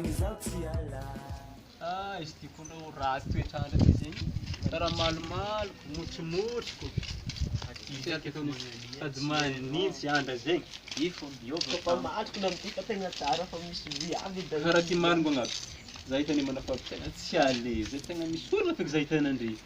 Izaho tsy hiala. Ah izy ty koa aloha ratsy toetr'andro ty zay karaha malomaloko, motrimotriko, sady manintsy andra zay, karaha ty marigny angamba, zay tena manafavotra ahy, tsy à l'aise, tena misy olana feky zay tena ndry.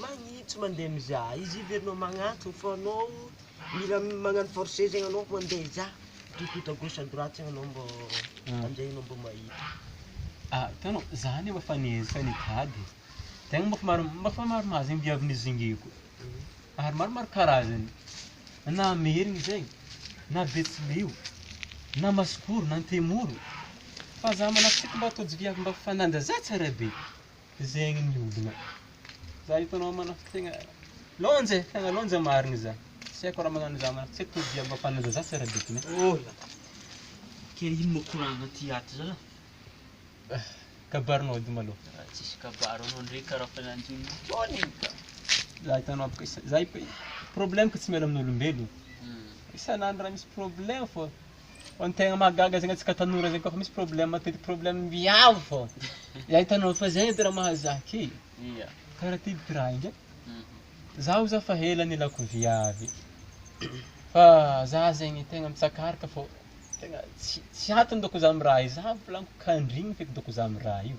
Magnitsy mandeha mizaha izy hiverina magnatony fa anao mila magnano forcer zegny anao mandeha hizaha tout tout à gauche à droite zegny anao mbô aminjay anao mbô mahita. Ah tena za nefa efa niezaka nitady e, tegna mafy mar- mafy maromaro zegny viavy nizingiko ary maromaro karazany, na merina zay, na betsileo, na masikoro, na antemoro, fa za manahaka antsika mba ataonjy viavy mba fananja za tsara be, Zegny ny olona. Za hitanao manafika tegna lônjy e, tegna lônjy marigny za. Tsy haiko raha magnano za manafika, tsy haiko tody jiaby mafana za, za tsy ara-bitagna e. Oh la la. Ke ino moa ko raha agnaty aty za? Ah, kabarinao edy malôha. Raha tsisy kabary anao ndray karaha fa nanjo ny taona igny ka. Za hitanao baka isa- za problème ko tsy miala amin'olombelogno. Isan'andro raha misy problème fô. Fa ny tegna mahagaga zegny antsika tanora zegny koa fa misy problème matetiky problème viavy fô, zay hitanao fa zay edy raha mahazaka e, kara ty ty raha inga, zaho za fa ela nilako viavy, fa za zegny tegna mitsakaraka fô tegna tsy tsy atony dôko za amy raha io, za volaniko kandrigny feky dôko za amy raha io.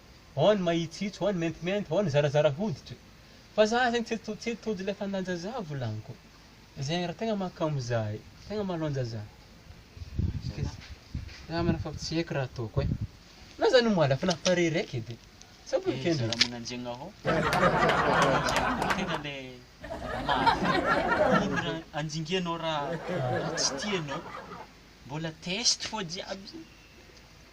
ao ny mahitsihitsy, ao ny maintimainty, ao ny zarazara hoditra. Fa za zegny tsy to- tsy tojo le fandan-jaza volagniko. Zegny raha tegna mahakamo za e, tegna mahalonjaza. Za mana fa tsy haiko raha ataoko e. Na za no malaka na pare raiky edy. Sa Eh, boken-dry? zara magnanjegna hô. Magnanjegna tegna le mafy. Ino raha anjingenao raha raha tsy tianao? Mbola test fô jiaby zany.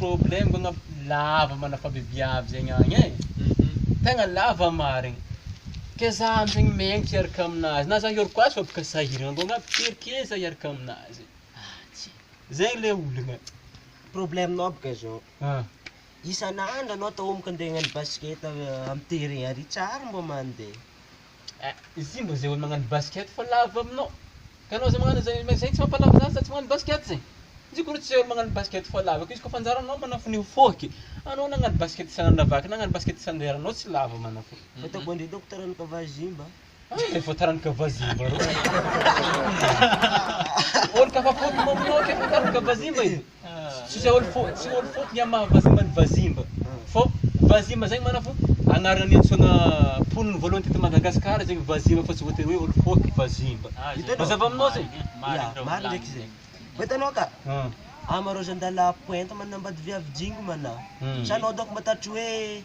Problème ngo ngamba lava manafavy viavy zegny agny e. Tegna lava marigny. Ke za amzegny miaiky hiaraka aminazy na za hioroko azy fa boka sahiragna ngo ngamba firy ke za hiaraka aminazy. Zay le olagna. Problème nao boka zao, isan'andro anao atao homaka ande hagnano basket am terrain ary tsy ary mba mande. Eh ity mba zay olo magnano basket fa lavo aminao ka anao zay magnano zay ma zay tsy mampalavo zany sady tsy magnano basket zay izy ko re tsy zay olo magnano basket fa lavo ko izy ko fa anjaranao manafo ny foke anao na agnano basket sa agnano lavaky na agnano basket sa andeha ranao tsy lavo manafo Fataoko an-dry daoko taranaka vazimba. Ay efa taranaka vazimba reo olo kafa foky mamonoake efa taranaka vazimba io Tsisy aolo fo, tsy aolo fo ny amin'ny maha vazimba ny vazimba fô vazimba zegny marina fô agnarana niantsoana mponina voalohany teto Madagasikara zegny vazimba fa tsy voatery hoe aolo fo vazimba. Ah, zay. Mazava aminao zegny? Marigny, Ya, marigny raha marigny ndraiky volagny. zegny. Fa hitanao ka, Ah, ama rôzan-dalahy pointy manambady viavy jingo mana. Hmm. Sa anao donc mba tatry hoe